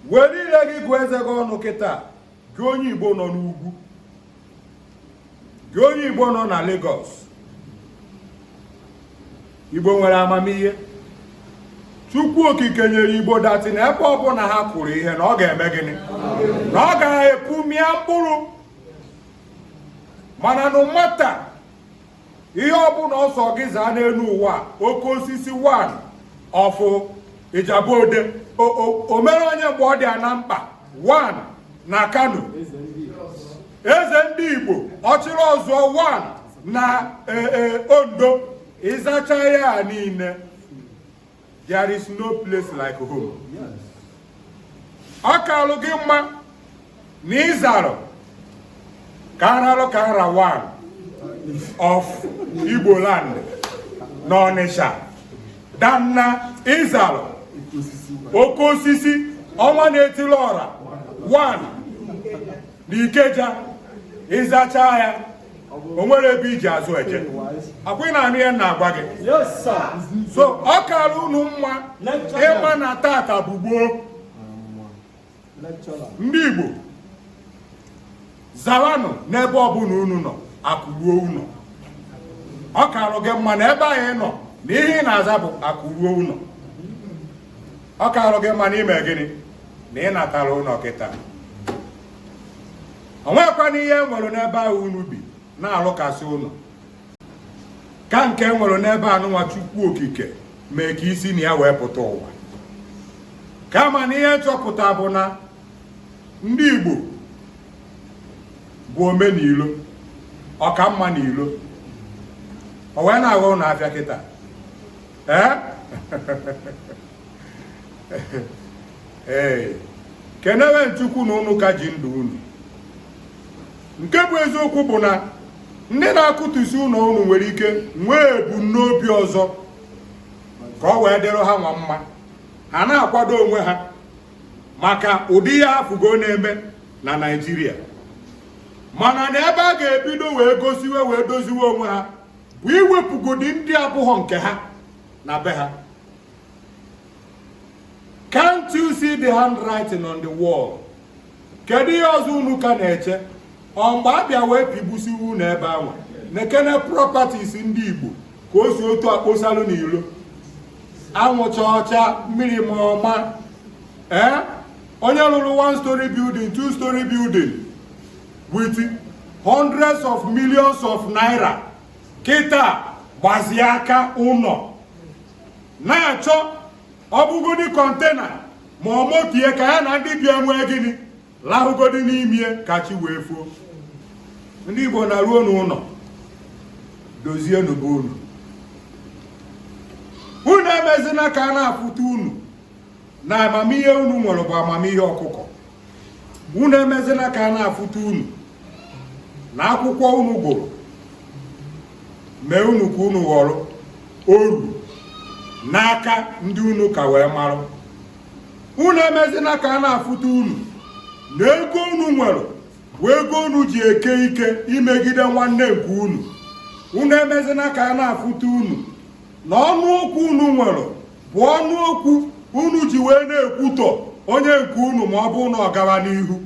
were ire gị gụọ eze gị ọnụ kịta gị onye igbo nọ n'ugwu gị onye igbo nọ na Lagos igbo nwere amamihe chukwu okike nyere igbo that na ebe ọbụla ha kụrụ ihe na ọ ga-eme gịnị na ọ ga-epu mịa mkpụrụ mana no matter ihe ọbụla ọ sọ gị zaa n'elu ụwa oke osisi one of Ijebu Ode o mere onye mgbe ọ dị ya na mkpa one na Kano eze ndị igbo ọchịrị ọzụọ one na e, e, Ondo ị zachaa ya niile There is no place like home. Ọ kalụ gị mma na ị zarụ ka aralụ ka ara one of Igbo land na Ọnịsha than na ị zarụ oke osisi ọnwa na-etili ọra one na Ikeja ị zachaa ya o nwere ebe i ji azụ eje ọ kwa ị na-anụ ihe m na-agwa gị so ọ kara unu mma ịma na tata bụ gboo ndị Igbo zawanụ n'ebe ọbụla unu nọ akụ ruo ụnọ ọ karụ gị mma na ebe a ị nọ na ihe ị na-aza bụ akụ ruo ụnọ ọ karụ gị mma na i me gịnị na ị natara ụnọ kịta o nwekwana ihe e nwere n'ebe ahụ unu bi na-alụkasị ụnọ ka nke e nwere n'ebe anụnwa chukwu okike mee ka i si na ya wee pụta ụwa kama na ihe m chọpụta bụ na ndị Igbo bụ ome n'ilo ọka mma n'ilo o wee na-aghọ unu afịa kịta ee ee kenewenụ Chukwu na unu ka ji ndụ unu nke bụ eziokwu bụ na ndị na-akụtusi ụnọ unu nwere ike nwee ebumnobi ọzọ ka ọ wee dịrị ha nwa mma ha na-akwado onwe ha maka ụdị ihe ha fụgo na-eme na Naịjirịa mana na ebe a ga-ebido wee gosiwe wee doziwe onwe ha bụ iwepụgodi ndị abụghọ nke ha na be ha Can't you see the handwriting on the wall? Kedu ihe ọzọ unu ka na-eche? Ọ mgbe a bịa wee tigbusiwe unu ebe ahụ nekene properties ndị Igbo ka o si otu a kposalụ n'ilo anwụ chaa ọ chaa mmiri maa ọ maa ee eh? onye lụrụ one story building two story building with hundreds of millions of naira kịta gbazie aka ụnọ na-achọ ọ bụgodi container ma ọ mokie ka ya na ndị be ya mee gịnị lahụgodi n'imie ka chi wee fuo ndị Igbo naruonu ụlọ dozienu be unu unu emezina ka a na-afụta unu na amamihe unu nwere bụ amamihe ọkụkọ unu emezina ka a na-afụta unu na akwụkwọ unu gụrụ mee unu ka unu ghọrọ oru n'aka ndị unu ka wee marụ unu emezina ka a na-afụta unu na ego unu nwere bụ ego unu ji eke ike imegide nwanne nke unu unu emezina ka a na-afụta unu na ọnụ okwu unu nwere bụ ọnụ okwu unu ji wee na-ekwutọ onye nke unu ma ọ bụ na ọ gawa n'ihu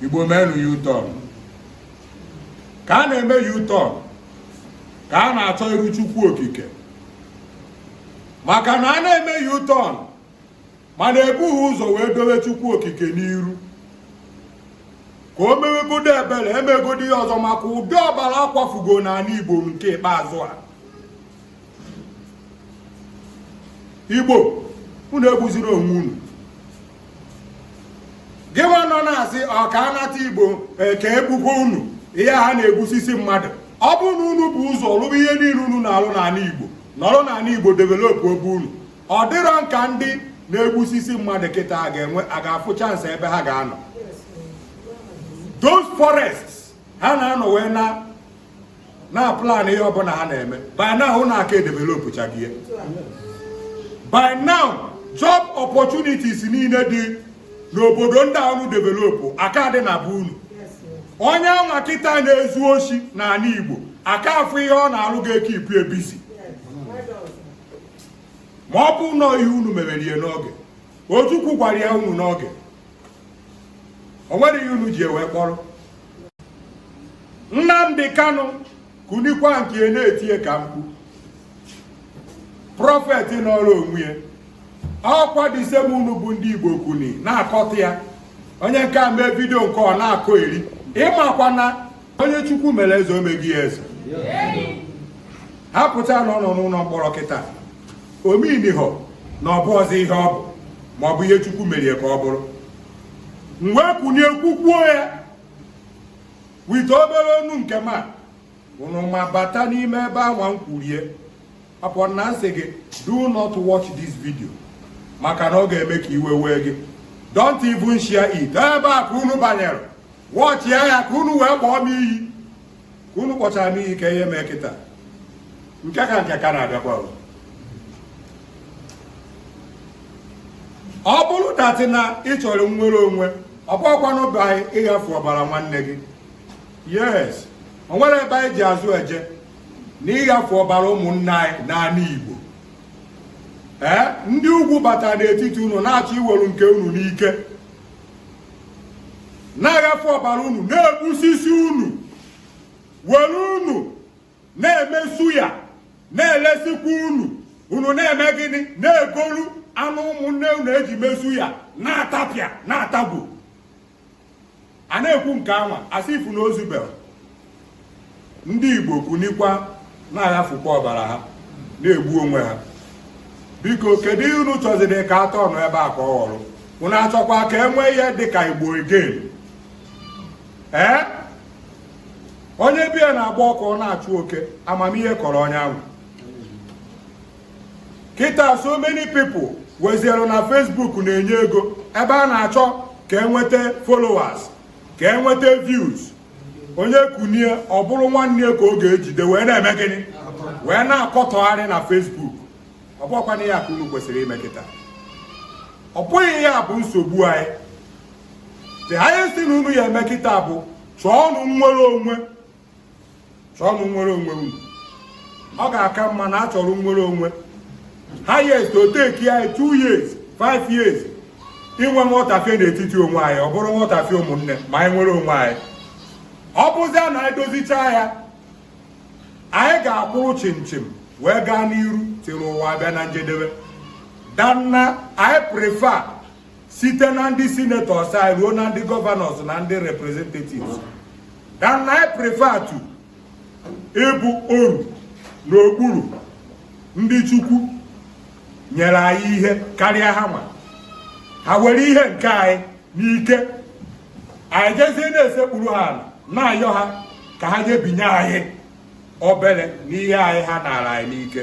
igbo meenu U-turn ka a na-eme U-turn ka a na-achọ iru chukwu okike maka na a na-eme U-turn mana ebughị ụzọ wee dowe chukwu okike n'iru ka o mewegodo ebere emegodo ihe ọzọ maka ụdị ọbara a kwafugo n'ala igbo nke ikpeazụ a igbo unu egbuziri onwe unu gịnwa nọ na-asị ọ ka a nata igbo e, ka e gbukwaa unu ihe ha na-egbusisi mmadụ ọ bụrụ na unu bu ụzọ lụba ihe niile unu na-alụ n'ala igbo nọrọ n'ala igbo developuo be unu ọ dịrọ m ka ndị na-egbusisi mmadụ kịta a ga-enwe a ga-afụ chance ebe ha ga-anọ those forests ha na-anọ wee na na-aplan ihe ọbụla ha na-eme by now unu aka edevelop chagie by now job opportunities niile dị n'obodo ndị a unu developụ aka adị na be unu onye anwa kịta na-ezu oshi n'ala Igbo aka afụ ihe ọ na-alụ ga-ekeepu ya busy ma ọ bụ na ọ ihe unu mererie n'oge Ojukwu gwara ya unu n'oge o nwere ihe unu ji wee kpọrọ Nnamdi Kanu kunikwa nke na-etinye ka mkpu prophet n'ọrụ onwe ya ọ kwa the same unu bụ ndị Igbo kuni na-akọtọ ya onye nke a mee video nke ọ na-akọyeri ịmakwa na onye chukwu mere eze o mego ya eze ha pụta na ọ nọ n'ụlọ mkpọrọ kịta ọ meanịhọ na ọ bụrọzi ihe ọ bụ ma ọ bụ ihe chukwu merie ka ọ bụrụ m wee kunie kwukwuo ya wite obere onu nke ma unu ma bata n'ime ebe anwa m kwurie apụọ na m sị gị do not watch this video maka na ọ ga-eme ka iwe wee gị don't even share it ebe a ka unu banyere watch ya ka unu wee kpọọ m iyi ka unu kpọchara m iyi ka ihe mee kịta nke ka nke ka na-abịakwa ọ bụrụ that na ị chọrọ nnwere onwe ọ bụkwana by ịghafu ọbara nwanne gị yes o nwere ebe anyị ji azụ eje n'ịghafu ọbara ụmụnna anyị n'ala Igbo ee ndị ugwu batara n'etiti unu na-achọ iwere nke unu n'ike na-aghafu ọbara unu na-egbusisi unu were unu na-eme suya na-elesikwa unu unu na-eme gịnị na-egolu anụ ụmụnne unu eji mee suya na-atapịa na-atagbu a na-ekwu nke anwa as if na o zubero ndị igbo kunikwa na-aghafukwa ọbara ha na-egbu onwe ha biko kedu ihe unu chọziri ka atọ ọnụ ebe a ka ọ ghọrọ unu achọkwa ka e nwee ihe dịka igbo again ee onye be ya na-agba ọkụ ọ na-achụ oke amamihe kọrọ onye anwa kịta so many people weziere na Facebook na-enye ego ebe a na-achọ ka enweta followers ka enweta views onye kunie ọ bụrụ nwanne ya ka ọ ga-ejide wee na-eme gịnị wee na-akọtọgharị na Facebook ọ bụkwana ya ka unu kwesịrị ime kịta ọ bụghị ya bụ nsogbu anyị the highest thing unu ya-eme kịta bụ chọọnụ nnwere onwe chọọnụ nnwere onwe unu ọ ga-aka mma na a chọrọ nnwere onwe highest o take anyị 2 years 5 years inwe nghọtafie n'etiti onwe anyị ọ bụrụ nghọtafie ụmụnne ma anyị nwere onwe anyị ọ bụzia na anyị dozicha ya anyị ga-akwụrụ chịm chịm wee gaa n'iru till ụwa bịa na njedebe than na anyị prefer site na ndị senators anyị ruo na ndị governors na ndị representatives than na anyị prefer to ịbụ oru n'okpuru ndị chukwu nyere anyị ihe karịa ha nwa ha were ihe nke anyị n'ike anyị jezie na-esekpuru ha ala na-ayọ ha ka ha nyebinye anyị obere n'ihe anyị ha nara anyị n'ike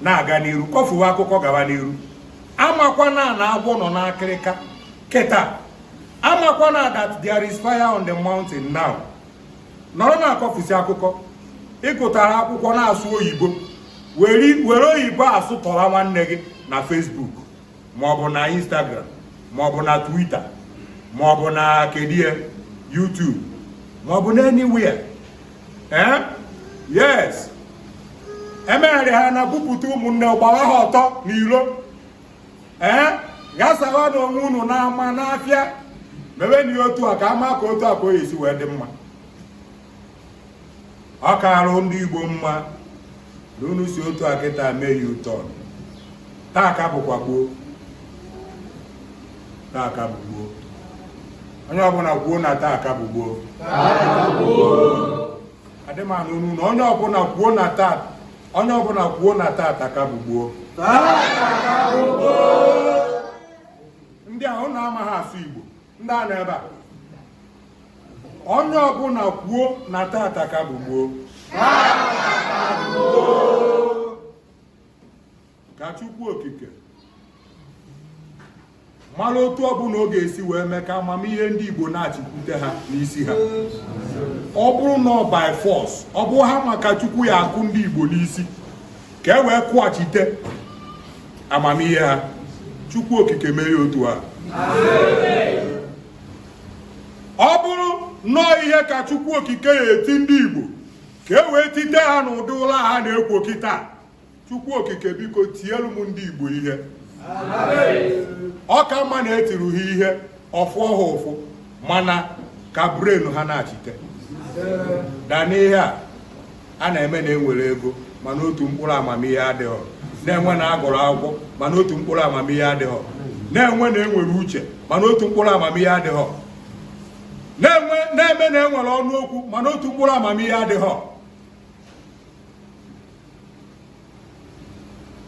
na-aga n'iru kọfuwe akụkọ gawa n'iru amakwana na agwọ nọ n'akịrịka kịta amakwana that there is fire on the mountain now nọrọ na-akọfusi akụkọ ị gụtara akwụkwọ na-asụ oyibo were oyibo asụtọwa nwanne gị na Facebook maọbụ na Instagram maọbụ na Twitter maọbụ na kedie YouTube maọbụ na anywhere ee yes emegharị ha na-akpụpụta ụmụnne gbara ha ọtọ n'ilo ee ghasawanụ onwe unu n'ama n'afịa mebenụ otu a ka a ma ka otu o si wee dị mma ọ kaara ndị Igbo mma na unu si otu a kịta mee ya ụtọ taa ka bụkwa gboo taa ka bụ gboo onye ọbụla kwuo na taa ka bụ gboo adị m anụ unu na onye ọbụla kwuo na taa onye ọbụla kwuo na tata ka bụ gboo ndị ahụ na-amaghị asụ Igbo ndị a nọ ebe a onye ọbụla kwuo na tata ka bụ gboo ka Chukwu Okike mara otu ọbụla ọ ga-esi wee mee ka amamihe ndị Igbo nachikwute ha n'isi ha ọ bụrụ na ọ by force ọ bụ hammer ka Chukwu ya-akụ ndị Igbo n'isi ka e wee kụghachite amamihe ha chukwu okike mee ya otu a ọ bụrụ na ọ ihe ka chukwu okike ya-eti ndị igbo ka e wee tite ha n'ụdị ụla ha na-ekwo kịta chukwu okike biko tielu m ndị igbo ihe ọ ka mma na e tiri ha ihe ọ fụọ ha ụfụ mana ka brain ha nachite da n'ihe a a na-eme na enwere ego mana otu mkpụrụ amamihe adịghọ na-eme na agụrụ akwụkwọ mana otu mkpụrụ amamihe adịghọ na-eme na enwere uche mana otu mkpụrụ amamihe adịghọ na-eme na enwere ọnụ okwu mana otu mkpụrụ amamihe adịghọ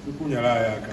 Chukwu nyere anyị aka